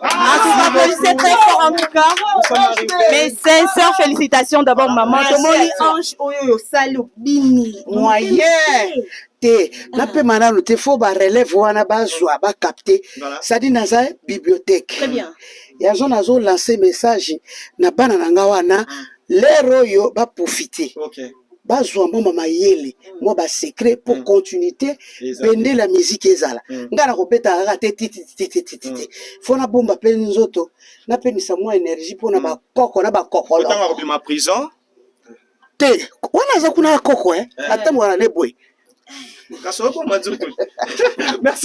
En tout cas, applaudissez très fort en tout cas. Mes sincères félicitations d'abord, maman. Tomoni ange oyo osali obini. Moyen. te napema nano te fo barelève wana bazwa bacapte sadi naza bibliothèque yango nazolance message na bana na nga wana lere oyo baprofite okay. bazwa mwa mayele mwa basecret mpo mm. continuité bende la miziki ezala mm. ngai nakobetaka kaka te titititititi mm. fo nabomba mpe nzoto napemisa mwa énergie mpo na bakoko na bakokolokobima prison te wana aza kuna ya koko eh? eh. atambola na ne boye Merci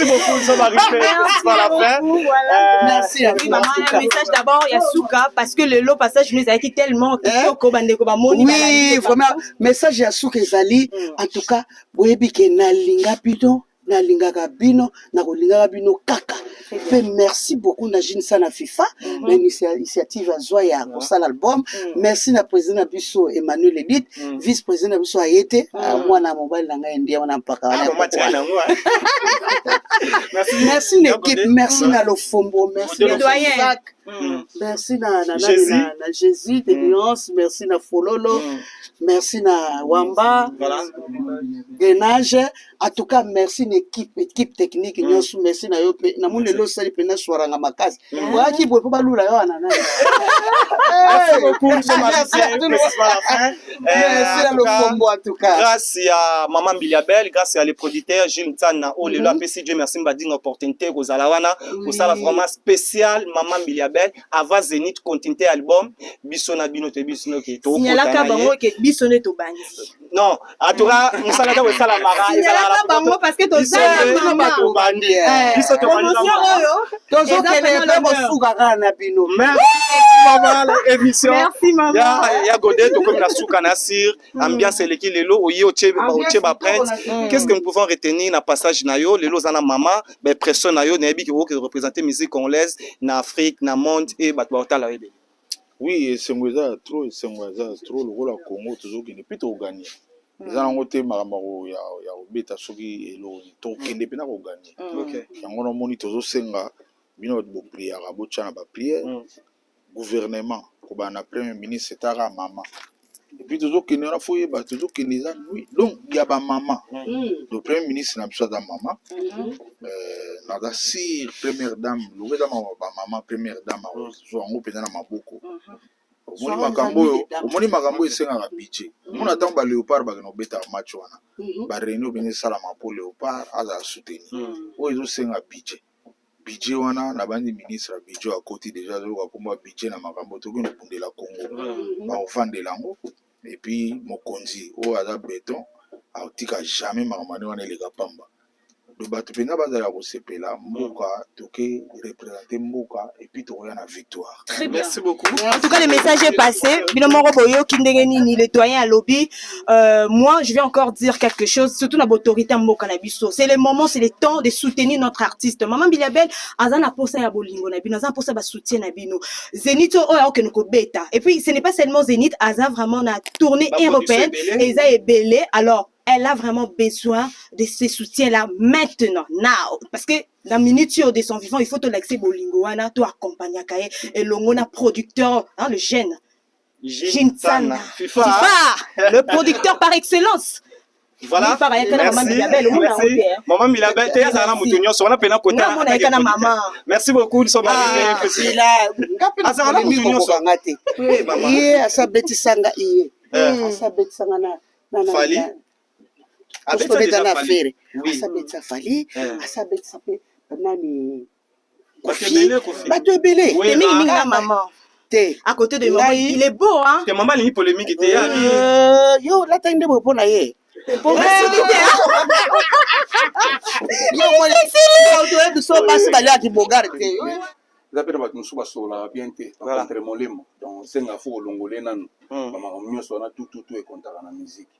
beaucoup, ça va arriver jusqu'à la fin. Euh, Merci. Oui, maman, un message d'abord, Yasuka, parce que le lot passage nous a été tellement eh? kitoko, bande ko bamoni. Oui, vraiment, message Yasuka ezali, mm. en tout cas, boyebi ke na linga bino, na lingaka bino, nakolingaka bino kaka mpe merci beaucoup na jine sana fifa mhm. na initiative azwa ya kosala album mhm. merci na président na biso emmanuel edit mhm. vice président na biso aye te ah, mwana ya mobali na ngai ndie wana mpaka wana ah, merci na équipe merci na lofombo merci na Mm. merci na, na, jésus. na, na jésus de mm. nuance merci na fololo mm. merci na wamba voilà. denage en tout cas merci na équipe équipe technique mm. nyonso mm. merci na yo mpe namoni lelo osali mpenza swaranga makasi mm. oyaki boye mpo balula yo wana nani grâce ya mama mbiliabel grâce ya le producteur jules nsana oyo lelo apesi dieu merci mbadinga opportunité kozala wana kosala vraiment spécial mama mbiliabel avant zenith continuité album biso na bino toyebi biso noke tokoyalaka bango ke biso nde tobangi non atura mosala ntango esalamaka ezalaka bango parceke tozaa bato bandi biso tomotion oyo tozokende mpe kosuka kaka na bino mabala émission ya gode tokomi na suka na sir mm. ambiance eleki lelo oye otie baprinte mm. qu'est ce que nous pouvons retenir na passage na yo lelo oza na mama baimpression na yo nayebi ke okoki représente musique congolaise na afrique na monde e bato baotala yo ebele Oui esengo eza ya trop esengo eza ya trop lokola Congo tozokende mpe tokoganye eza hmm. yango te makambo ya kobeta soki eloko nini tokokende mpe na koganye hmm. yango namoni tozosenga bino bato bopriaka botya na bapriere hmm. gouvernement kobanda na premier ministre etaka mama epuis tozokende wana fo oyeba tozokende eza nuit donc ya bamama le premier ministre na biso aza mama euh, naza sire première dame longo eza mama bamama première dame akozwa yango mpenza na maboko omoni makambo oyo omoni makambo oyo esengaka budget omona ntango ba léopard bakenda kobeta match wana ba réunion mpenza esalama mpo léopard azala soutenir oyo ezosenga budget budget wana na bandi ministre ya budget oyo akoti deja azoluka kombo ya budget na makambo toki nobundela congo bakovandela yango epuis mokonzi oyo aza beton akotika jamais makambo ane wana eleka pamba do bato mpenza bazala kosepela mboka toke represente mboka puis tokoya na victoire très bien merci beaucoup en tout cas le message est passé bino moko boyoki ndenge nini le doyen alobi euh, moi je vais encore dire quelque chose surtout na autorité ya mboka na biso c'est le moment c'est le temps de soutenir notre artiste maman bilabel aza na posa ya bolingo na bino aza na posa ba soutien na bino zenith oyo akokende kobeta et puis ce n'est pas seulement zenith aza vraiment na tournée européenne eza ebele alors elle a vraiment besoin de ce soutien-là maintenant, now. Parce que na minute oyo de son vivant il faut tolakisa bolingo wana to accompagnaka ye elongo na producteur hein, le jeune jinsana fifa, fifa le producteur par excellence voilà maman milabel te azala na moto nyonso wana mpena kotamerci beaucoup azala na moto nyonso asabetisa nga iye asabetisa nga na fali Abeta déjà na affaire. Oui. Asa betisa Fally, eh. asa betisa pe nani Kofi, bato ebele. Te mingi mingi na maman. Te. À côté de maman, il est beau hein. Te maman ni polémique te ya. Euh, yo la tande bo pona ye. basi baliaki bogare te eza mpe na bato mosusu basololaka bien te entre molemo donc senga fo olongole nanu bamakambo nyonso wana tututu ekontaka na miziki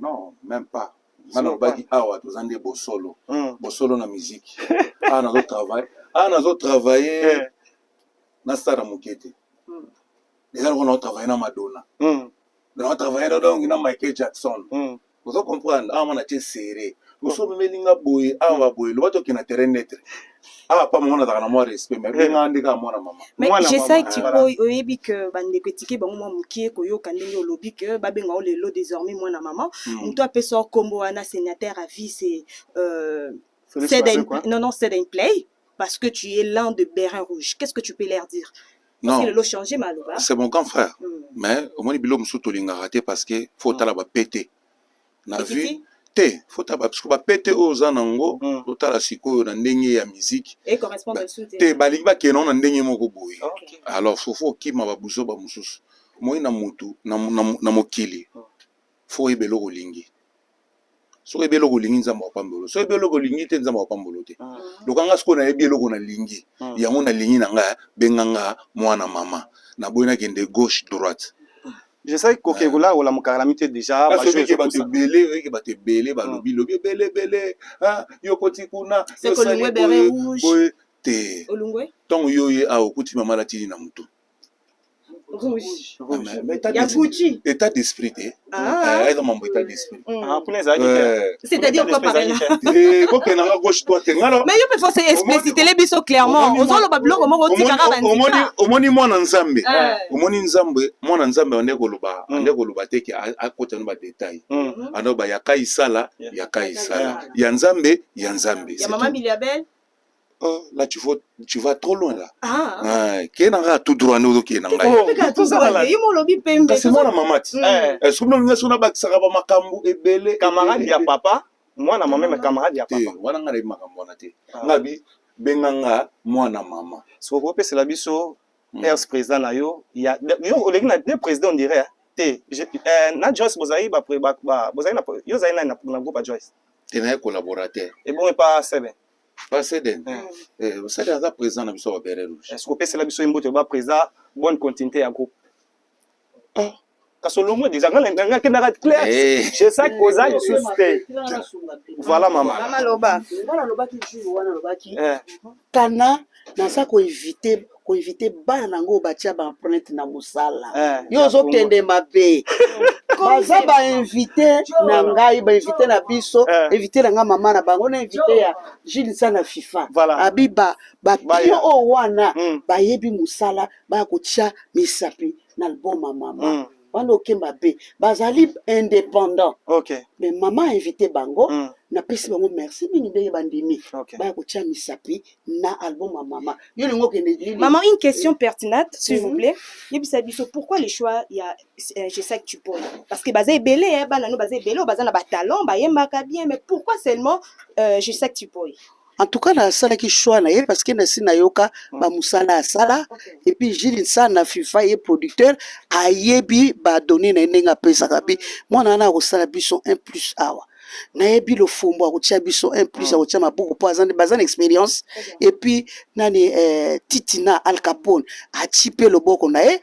Non, même pas. Nga nalobaki awa toza nde bosolo. Hmm. Bosolo na musique. Awa nazo travailler. Awa nazo travailler eh. na stade moke te. Hmm. Eza lokola nazo travailler na Madonna. Hmm. Nazo travailler donc na Michael Jackson. Ozo comprendre? Awa na tie serré. oso omemeli nga boye awa boye loba tokende na terrain neutre awa pa mama nazalaka na mwa respect mais bengaka nde kaka mwana mama mais jesai tikoy oyebi ke bandeko etike bango mwa mokie koyoka ndenge olobi ke babenga o lelo désormais mwana mama hmm. moto apesa o nkombo wana sénateur à vie c'est euh, non non c'est un play parce que tu es l'un de Bérin Rouge qu'est-ce que tu peux leur dire non lelo changer maloba c'est mon grand frère hmm. mais omoni biloko mosusu tolingaka te parce que faut hmm. otala bapete na vie te fota bapisko bapete oyo oza na yango hmm. totala sikoyo na ndenge ya miziki te balingi bakenda ngo na ndenge moko boye alors fofo okima babuzoba mosusu moi na motu na mokili hmm. fo oyeba eloko olingi soki oyebi eloko olingi nzambe akopambolo soki oyebi eloko olingi te nzambe akopambolo te hmm. lokanga sikoyo nayebi eloko nalingi yango nalingi na ngai benga nga mwana mama naboyi nakende gauche droite je sais ko ke gola ola mukala mite déjà ba jeux ke bato belé oui ke bato belé ba lobi lobi belé belé hein yo koti kuna c'est ko lingwe bere rouge te olungwe tango yo ye a okuti mama la tini na mutu rouge rouge ya Gucci état d'esprit te ah eza mambo état d'esprit Mm. Ah, kuna ezalaki te. Eh. C'est-à-dire quoi par là Eh, bokende nanga gauche droite nga na- mais yo mpe fose explicitele biso clairement Omoni- ozoloba biloko moko omoni- otikaka omoni- bandika omoni mwana nzambe Eh. omoni nzambe mwana nzambe ande koloba Mm. ande koloba te ke a- akota no badetail Mm. ande ba ya kai sala Yeah. ya kai sala ya nzambe ya nzambe ya c'est mama tout. miliabel Oh, là tu vas, tu vas trop loin là. Ah. ah qui nanga tout droit nous qui nanga. Oh, tout ça là. Yimo lobi pembe. C'est moi la mamati. Mm. Eh. Est-ce que nous sommes ba kisaka ba makambu ebele. Camarade ya papa, moi na maman mais ah. camarade ya papa. Wana nga le makambo na te. Ah. Nga bi benga nga moi na maman. So ko pesa la biso mm. ex président na yo ya yo oleki na deux présidents on dirait. Hein. Te, eh, na Joyce bozali ba ba bozali na yo zali na na groupe Joyce. Te na collaborateur. Et bon et pas Sebe. baseden baseden aza président na biso babere rouge est ce kopesela biso ye mbote ba président bonne continuité ya groupe ah. kasi olongo deja ngakendaka clair jesaki eh. oza lisusu te voilà mama nalobaki jour wana alobaki kana naza ko eviter ko eviter bana nango oyo batia ba empreinte na mosala Eh, yo ya ozokende mabe baza ba invité na ngai ba invité na biso Eh. invité na ngai mama na bango na invité ya jilisa na fifa Voilà. abi ba Baya. bapio oyo wana Mm. bayebi mosala baya kotia misapi na album ya mama Mm. wana oke mabe bazali indépendant okay. me mama invité bango mm. napesi bango merci mingi ndenge bandimi okay. baya kotia misapi na album ya mama yo lingo okende mama une question mm. pertinente s'il mm -hmm. vous mhm. plaît yebisa biso pourquoi le choix ya euh, gesak tupol parce que baza ebele eh, bana no baza ebele oyo baza na batalent bayembaka bien mais pourquoi seulement euh, gesak tupol En tout cas, nasalaki choix na ye parce que nasi nayoka ba musala asala et puis Gilles Nsana FIFA ye producteur ayebi ba données na ye ndenge apesaka bi mwana wana akosala biso un plus awa nayebi lofombo akotia biso un plus akotia mabuku mpo aza nde- baza na expérience et puis nani eh, titina al capone atie mpe loboko na ye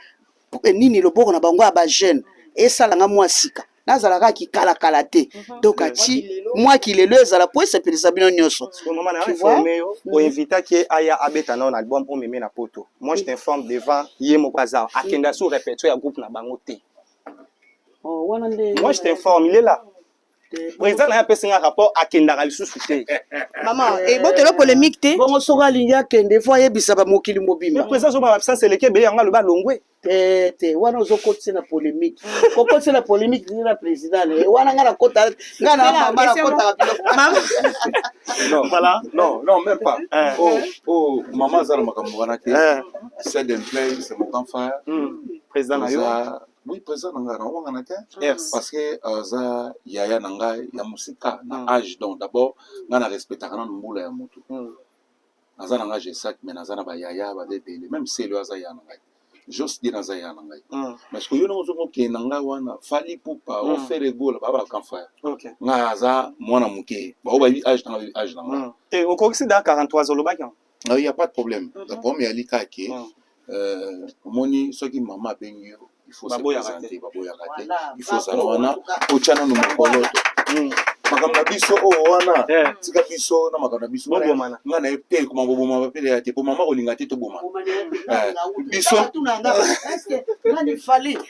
eh, nini loboko na bango ya bajeune esala nga mwa sika nazala kaka kikalakala te mhm. donc aci mwa kilelo ezala mpo esepelisa bino nyonso oinvitaki ye aya abeta nao na album omeme na poto moi je t'informe devant ye moko aza akenda sur repetio ya groupe na bango te oh, moi je t'informe il est là président na ye apesi nga rapport akendaka lisusu te mama ebotelo eh, eh, polémique te bongo soki alingi akende fo ayebisa bamokili mobima président azobaa absence eleki ebele yango aloba alongwe te te wana ozokotisa na polemique kokotisa na polemique zili na président ne wana nga nakota nga na mama nakotaka biloko voilà non non même pas eh. oh oh mama aza na makambo wana te eh. c'est de plein c'est mon grand frère hmm. président na yo oui président na ngai nawangana te parce que aza euh, yaya na ngai ya mosika na hmm. age donc d'abord ngai na respectaka nano mbula ya motu hmm. naza na nga gesac mais naza na bayaya baza ebele meme selo aza yaya na ngai jos de naza yaya na ngai mm. mais sikoyo yo ndenge ozoki okende na ngai wana fali pupa mm. ofere egola baba bakanfaya okay. ngai aza mwana moke bao bayebi age na ngai age na ngai mm. te okokisi da 43 olobaki yango ah, ya pas de problème mm -hmm. problème ya likaki mm. Euh, omoni soki mama abengi yo il faut se présenter baboyaka te il faut ozala wana otya nanu mokolo hmm. makambo na biso oyo oh, wana eh. tika biso na makambo na biso nga na ye te ekoma koboma bapele ya te mpo mama kolinga te toboma eh, biso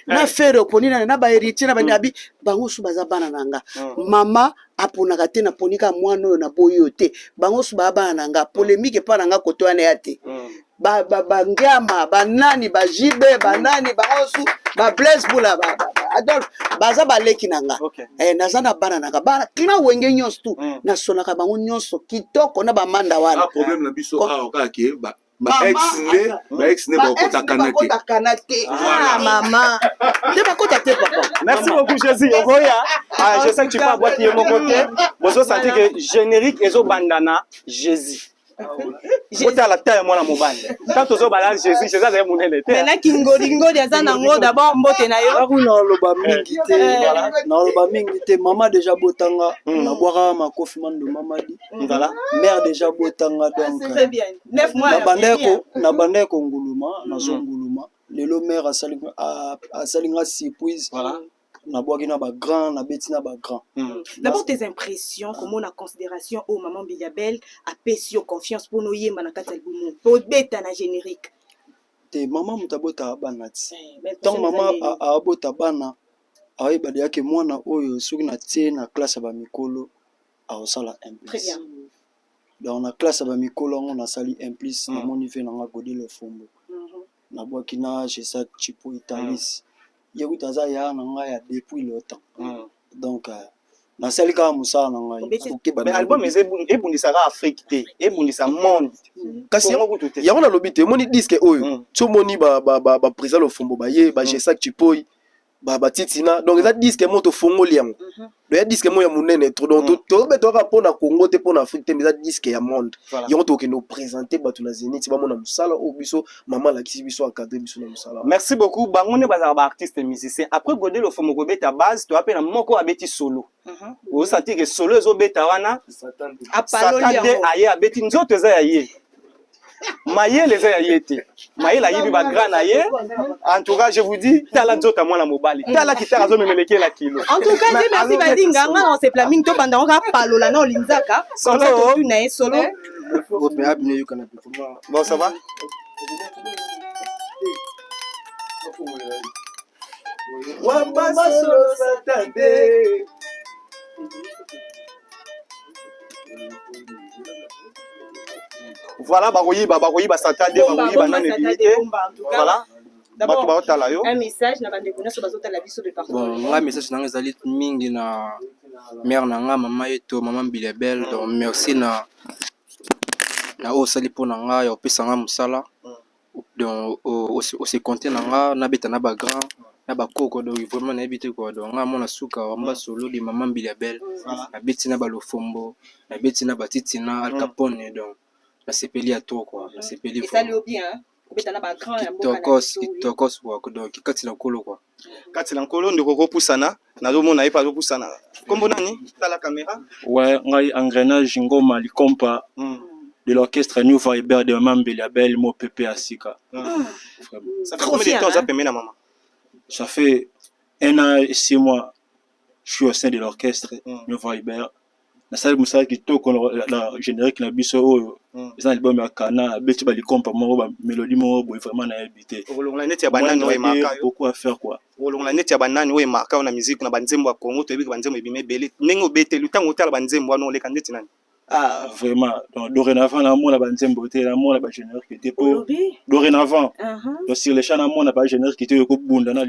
na eh. fere oponi nani na baheritier na banabi hmm. bango su baza bana na nga hmm. mama aponaka te naponika mwana oyo naboyi yo te bango su baa bana na nga polemike epa na nga koto wana ya te ba ba ba ngiama ba nani ba JB ba nani ba osu ba Blaise Bula ba, ba, ba Adolphe baza baleki na nga okay. eh, naza na bana nanga bana kina wenge nyonso tu mm. nasolaka bango nyonso kitoko na bamanda wana ah, problème na biso awa kaka ke ba baex nde bakotakana te ah, mama nde bakota te papa merci beaucoup jésus okoya ah, je sais que tu pas bwaki ye moko te bozosanti ke générique ezobandana jésus otala ta ya mwana mobali ntango tozobala jésus jésus azali monene te mena kingolingoli aza nango dabord mbote na yo aku naoloba mingi te eh. naoloba mingi te mama deja botanga hmm. nabwakaka makofi mando mamadi voilà mère deja botanga donc nabandaki konguluma nazonguluma hmm. lelo mère asali nga surprise nabwaki na bagrand nabeti na bagrand hmm. d'abord tes impressions komona considération oyo maman mbiliabel apesi yo confiance mpona oyemba na kati ya albumu mpo obeta na générique te mama moto abotaka bana ti eh, ntango mama abota bana ayeba deya ke mwana oyo soki natie na classe ya bamikolo akosala implice donc na classe ya bamikolo yango nasali implice hmm. namoni ve nanga godile fombo na bwaki na Gesac Chipo Italis ye kutu aza ya na ngai ya depuis le temps Mm. donc euh, nasali kaka mosala na ngai Obeti- Nakoki Mais banda album eza ebu- ebundisaka Afrique te, ebundisa monde. kasi Congo kutu te. yango nalobi te omoni diske oyo Mm. so omoni ba, ba, ba, ba président lofombo baye ba Mm. gesac chipoi ba ba titina donc eza disque moko tofongoli yango Mhm. donc ya disque moko ya monene trop donc Mm. to- tobetaka kaka mpo na congo te mpo na afrique te mais eza disque ya monde Voilà. yango tokokende kopresente bato na zenit bamona mosala oyo biso mama alakisi biso akadre biso na mosala wana. merci beaucoup bango nde bazalaka ba artiste musicien après gode lofomo kobeta base toya mpe na moko abeti solo Mhm. ozosantir ke solo ezobeta wana Satan te. apaloli satan de yango aye abeti nzoto eza ya ye mayele eza ya ye te mayele ayibi bagra na ye en tout cas je vous dis tala nzoto ya mwana mobali tala kitaka azomemelekela kilo en tout cas je merci badinga nga na osepela mingi tobanda ngo kaka palola na olinzaka solo na ye solo eh? bon ça va Voilà, bakoyiba, bakoyiba satade, bakoyiba nani ebimi te. Voilà. bato baotala yo nga message na nga ezali mingi na mare na nga mama yeto mama mbilebel donc merci na na oyo osali mpo na ngai ya kopesa ngai mosala o se compte na nga na beta na ba grand na ba koko donc vraiment nayebi te kua donc nga mwana suka wa mbasoolo de mama mbila belle na beti na ba lofombo na beti na ba titina alkapone donc na sepeli ya trop kua na sepeli kitokos kitokos kua donc kikatsi na kolo kua. kati na nkolo ndeko kopusana nazomona ye mpe azopusana nkombo nani tala kamera we ngai engrenage ngoma likompa mm. de l'orchestre new viber de mama mbeli ya bel mo pepe ya sika mm. ça fait combien de temps oza pembe na mama ça fait un an et six mois je suis au sein de l'orchestre mm. new viber nasali mosala kitoko na generique na biso oyo hmm. eza na libome ya kana abeti ba likompa moko ba melodie moko boye vraiment nayebi te okolongola neti ya banani oyo emaka beaucoup à faire quoi okolongola neti ya banani oyo emaka yo na musique na banzembo ya congo toyebi ke banzembo ebima ebele ndenge obeteli ntango otala banzembo wana oleka ndeti nani ah vraiment donc dorénavant namona banzembo te namona ba générique te po dorénavant uh-huh. donc sur le champ namona ba générique te oyo ekobunda na